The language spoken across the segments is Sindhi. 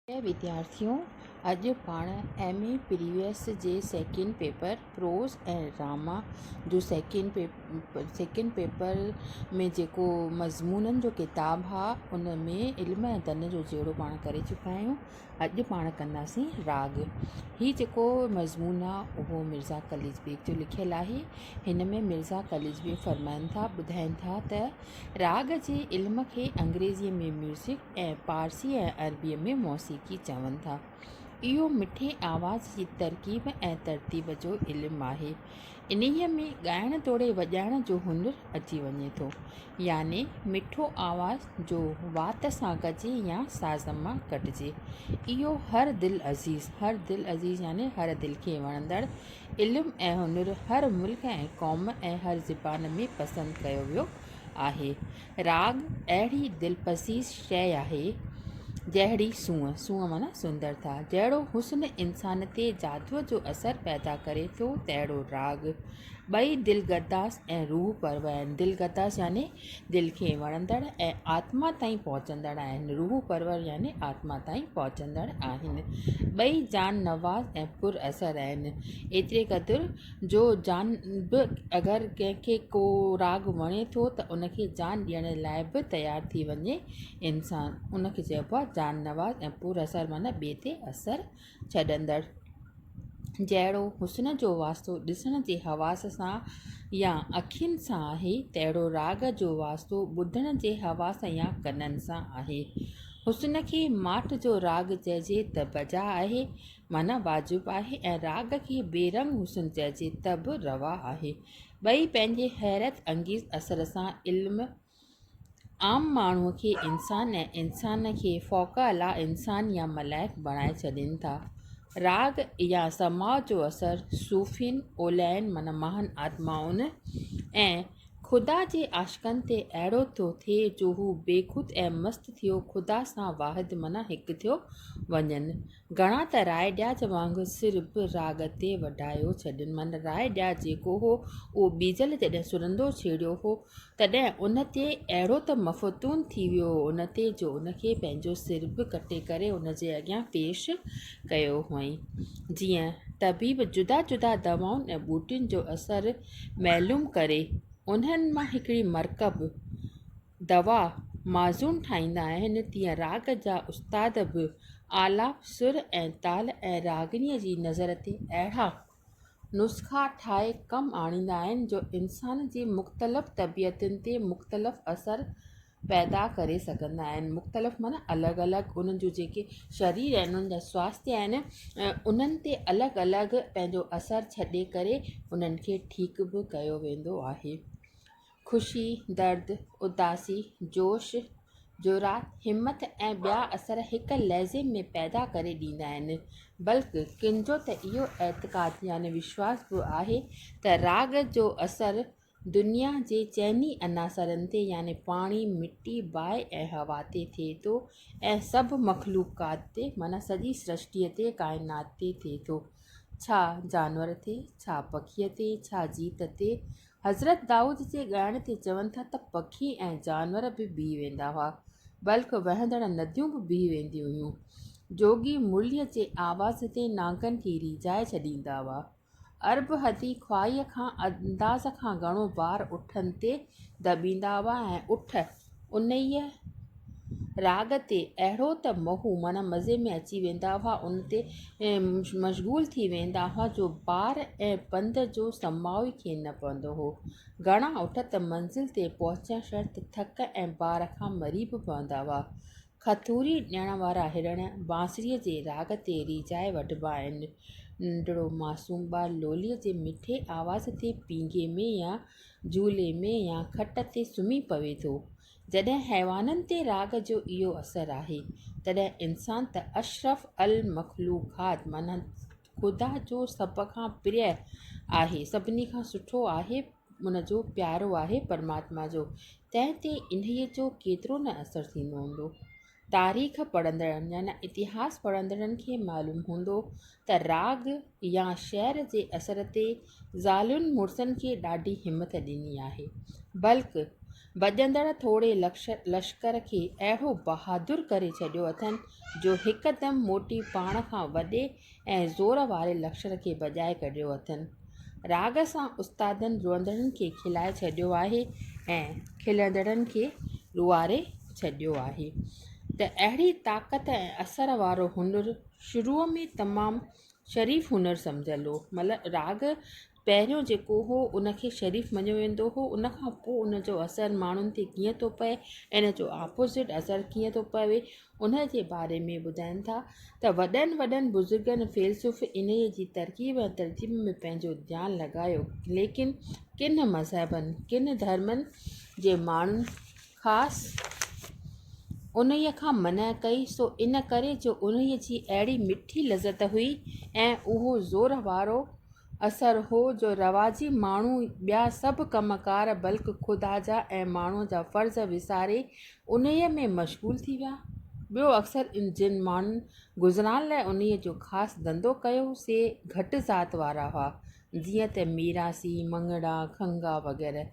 پريا وديارٿيو اڄ پاڻ ايم اي پريويس جي سيڪنڊ پيپر پروز ۽ ڊراما جو سيڪنڊ پيپر سيڪنڊ پيپر ۾ جيڪو مضمونن جو ڪتاب ها ان ۾ علم ۽ دن جو جهيڙو پاڻ ڪري چڪا آهيون اڄ پاڻ ڪنداسين راڳ هي جيڪو مضمون آ اهو مرزا قليچ بيگ جو لکيل آهي هن ۾ مرزا قليچ بيگ فرمائن ٿا ٻڌائن ٿا ته راڳ جي علم کي انگريزيء ۾ ميوزڪ ۽ پارسي ۽ عربيء ۾ موسيقي چون ٿا. اهو مٺي آواز جي ترڪيب ۽ ترتيب جو علم آهي. انهيء ۾ ڳائڻ توڙي وڄائڻ جو هنر اچي وڃي ٿو. يعني مٺو آواز جو وات سان ڪجي يا ساز مان ڪڍجي. اهو هر دل عزيز، هر دل عزيز يعني هر دل کي وڻندڙ، علم ۽ هنر هر ملڪ ۽ قوم ۽ هر زبان ۾ پسند ڪيو ويو آهي. راڳ اهڙي دلپذير شيء آهي، جهڙي سونهن، سونهن معنيٰ سندرتا، جهڙو حسن انسان تي جادوء جو اثر پيدا ڪري ٿو، تهڙو راڳ ٻئي دلگداز ۽ روح پرور آهن. دلگداز يعني دل کي وڻندڙ ۽ آتما تائين پهچندڙ آهن. روح پرور يعني آتما تائين پهچندڙ آهن. ٻئي جان نواز ۽ پر اثر آهن. ايتري قدر جو جان به اگر ڪنهن کي ڪو راڳ وڻي ٿو ته ان کي جان ڏيڻ لاء به تيار ٿي وڃي انسان ان کي چئبو آهي جان نواز ۽ پر اثر معنيٰ ٻئي تي اثر ڇڏندڙ جهڙو حسن جو واسطو ڏسڻ جي حواس سان يا اکين سان آهي تهڙو راڳ جو واسطو ٻڌڻ جي حواس يا ڪنن سان آهي حسن کي ماٺ جو راڳ چئجي ته بجا آهي معنيٰ واجب آهي ۽ راڳ کي بي رنگ حسن چئجي ته به روا آهي. ٻئي پنهنجي حيرت انگيز اثر سان علم عام ماڻهوء کي انسان ۽ انسان کي فوق اعليٰ انسان يا ملائڪ بڻائي ڇڏين ٿا. راڳ يا سماع جو اثر صوفين، اوليائن معنيٰ مهان آتمائن ۽ خدا جي عاشقن تي اهڙو ٿو ٿئي جو هو بيخود ۽ مست ٿيو خدا سان واحد معنيٰ هڪ ٿيو وڃن. گهڻا ته راء ڏياچ وانگر سر به راڳ تي وڍايو ڇڏين. من راء ڏياچ جيڪو هو، اهو بيجل جڏهن سرندو ڇيڙيو هو، تڏهن ان تي اهڙو ته مفتون ٿي ويو هو ان تي جو ان کي پنهنجو سر به ڪٽي ڪري ان جي اڳيان پيش ڪيو هئائين. جيئن طبيب جدا جدا دوائن ۽ ٻوٽين جو اثر معلوم ڪري، انهن مان هڪڙي مرڪب، دوا معزون ٺاهيندا آهن، تيئن راڳ جا استاد به آلاپ، سر ۽ تال ۽ راڳڻيء جي نظر تي اهڙا نسخا ٺاهي ڪم آڻيندا آهن، جو انسان جي مختلف طبيعتن تي مختلف اثر پيدا ڪري سگهندا آهن. مختلف معنيٰ الڳ الڳ انهن جون جيڪي شرير آهن، انهن جا سواستي آهن، انهن تي الڳ الڳ پنهنجو اثر ڇڏي ڪري انهن کي ٺيڪ به ڪيو ويندو آهي. خوشي، درد، اداسي، جوش، جرات، همٿ ۽ ٻيا اثر هڪ لحظي ۾ پيدا ڪري ڏيندا آهن. بلڪ ڪن جو ته اهو اعتقاد يعني وشواس به آهي ته راڳ جو اثر دنيا جي چئني عناصرن تي يعني پاڻي، مٽي، باهه ۽ هوا تي ٿئي ٿو ۽ سڀ مخلوقات تي معنيٰ سڄي سرشٽيء تي، ڪائنات تي ٿئي ٿو. ڇا جانور تي، ڇا پکيء تي، ڇا جيت تي، حضرت دائود جي ڳائڻ تي چون ٿا ته پکي ۽ جانور به بيهي ويندا هئا، بلڪ وهندڙ نديون به بيهي وينديون هيون. جوڳي مرليء جي آواز تي نانگن کي ريجهائي ڇڏيندا هئا. ارب هدي خواهيء کان انداز کان گهڻو بار اٺن تي دٻيندا هئا ۽ اٺ انهيء راڳ تي اهڙو ته مهو معنيٰ مزي ۾ اچي ويندا هئا، ان تي مشغول ٿي ويندا هئا جو بار ۽ پنڌ جو سماء ئي کين نه پوندو هو. گهڻا اٺ ته منزل تي پهچڻ شرط ٿڪ ۽ بار کان مري به پوندا هئا. کٿوري ڏيڻ وارا هرڻ بانسريء جي راڳ تي ريجهائي وٺبا آهن. ننڍڙو معصوم ٻار لوليء جي مٺي آواز تي پينگهي ۾ يا جهولي ۾ يا کٽ تي سمهي پوي ٿو. جڏهن حيوانن تي راڳ جو اهو اثر آهي، تڏهن انسان ته اشرف المخلوقات معنيٰ خدا جو سڀ کان پريء آهي، سڀني کان سٺو آهي، ان جو پيارو آهي پرماتما جو، تنهن تي انهيء جو ڪيترو نه اثر ٿيندو هوندو. تاريخ پڙهندڙن يعني اتهاس پڙهندڙن کي معلوم هوندو ته راڳ يا شعر جي اثر تي زالين مڙسن کي ڏاڍي همٿ ڏني آهي، بلڪ ڀڄندڙ ٿوري لشڪر کي اهڙو بهادر ڪري ڇڏيو اٿن جو هڪدم موٽي پاڻ کان وڏي ۽ زور واري لڪشر کي ڀڄائي ڪڍيو اٿن. راڳ سان استادن روئندڙن کي کلائي ڇڏيو آهي ۽ کلندڙن کي روئاري ڇڏيو آهي ته اهڙي طاقت ۽ اثر وارو هنر شروع ۾ تمام شريف هنر سمجهيل هو مطلب راڳ پهريون جيڪو هو ان کي شريف مڃيو ويندو هو ان کان پوء ان جو اثر ماڻهن تي ڪيئن ٿو پئي ۽ ان جو آپوزٽ اثر ڪيئن ٿو پوي ان جي باري ۾ ٻڌائين ٿا ته وڏن وڏن بزرگن فيلسوف انهيء جي ترڪيب ۽ ترجيب ۾ پنهنجو ڌيان لڳايو ليڪن ڪن مذهبن ڪن ڌرمن جي ماڻهن خاص انهيء کان منع ڪئي، سو ان ڪري جو انهيء جي اهڙي مٺي لذت هئي ۽ اهو زور وارو اثر هو جو رواجي ماڻهو ٻيا سڀ ڪم ڪار بلڪ خدا جا ۽ ماڻهوء جا فرض وساري انهيء ۾ مشغول ٿي ويا. ٻيو اڪثر جن ماڻهن گذران لاء انهيء جو خاص ڌنڌو ڪيو، سي گهٽ ذات وارا هئا، جيئن ته ميراثي، مڱڻا، کنگها وغيره.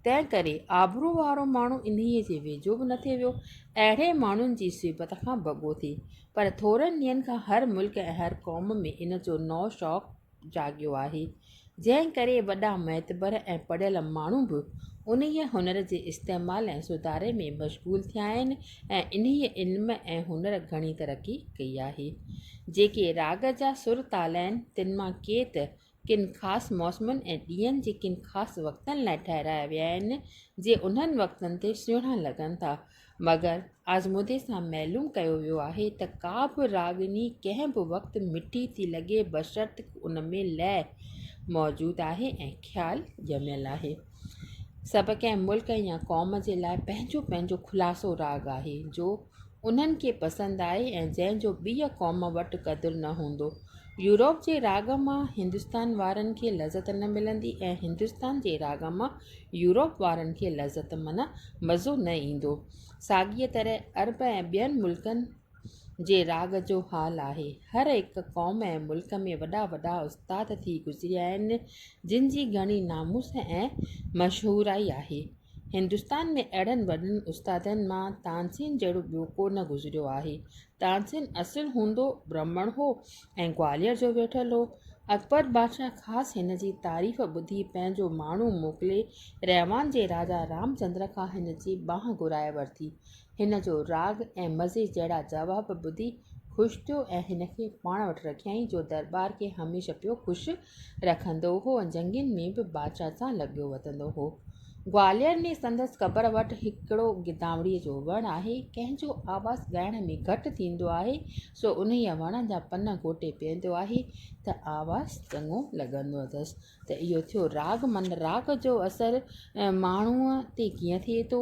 تنهن ڪري آبرو وارو ماڻهو انهيء جي ويجهو به نه ٿي ويو. اهڙي ماڻهن جي صحبت کان بگو ٿي. پر ٿورن ڏينهن کان هر ملڪ ۽ هر قوم ۾ ان جو نئون شوق جاڳيو آهي. جنهن ڪري وڏا معتبر ۽ پڙهيل ماڻهو به انهيء هنر جي استعمال ۽ سڌاري ۾ مشغول ٿيا آهن ۽ ۽ انهيء علم ۽ هنر گهڻي ترقي ڪئي آهي. جيڪي راڳ جا سر تال آهن، تن مان ڪي ته ڪن خاص موسمن ۽ ڏينهن جي ڪن خاص وقتن لاء ٺهرايا ويا آهن، جي انهن وقتن تي سهڻا لڳن ٿا. مگر آزمودي سان معلوم ڪيو ويو آهي ته ڪا به راڳني ڪنهن به وقت مٺي ٿي لڳي بشرط ان ۾ لئه موجود آهي ۽ خيال ڄميل آهي. سڀ ڪنهن ملڪ يا قوم جي لاء پنهنجو پنهنجو خلاصو راڳ آهي جو انهن کي پسند آهي ۽ جنهن جو ٻيء قوم وٽ قدر نه هوندو. يورپ جي راڳ مان هندستان وارن کي لذت نه ملندي ۽ هندستان جي راڳ مان يورپ وارن کي لذت معنيٰ مزو نه ايندو. ساڳيء طرح عرب ۽ ٻين ملڪن جي راڳ جو حال آهي. هر هڪ قوم ۽ ملڪ ۾ وڏا وڏا استاد ٿي گذريا آهن، جن جي گهڻي ناموس ۽ مشهورائي آهي. هندستان ۾ اهڙن وڏن استادن مان تانسين جهڙو ٻيو ڪو نه گذريو آهي. تانسين اصل هوندو برهمڻ هو ۽ گوالير جو ويٺل هو. اڪبر بادشاهه خاص هن جي تعريف ٻڌي پنهنجو ماڻهو موڪلي ريوان جي راجا رام چندر کان هن جي ٻانهن گهرائي ورتي ۽ هن جو راڳ ۽ مزي جهڙا جواب ٻڌي خوش ٿيو ۽ هن کي پاڻ وٽ رکيائين، جو درٻار کي هميشه پيو خوش رکندو هو ۽ جنگين ۾ به بادشاهه سان لڳيو وتندو هو. گوالير ۾ سندس قبر وٽ هڪڙو گدامڙيء جو وڻ آهي. ڪنهن جو آواز ڳائڻ ۾ گهٽ ٿيندو آهي، سو انهيء وڻ جا پن گهوٽي پيئندو آهي، ته آواز چڱو لڳندو اٿس. ته اهو ٿيو راڳ، معنيٰ راڳ جو اثر ماڻهوء تي ڪيئن ٿئي ٿو.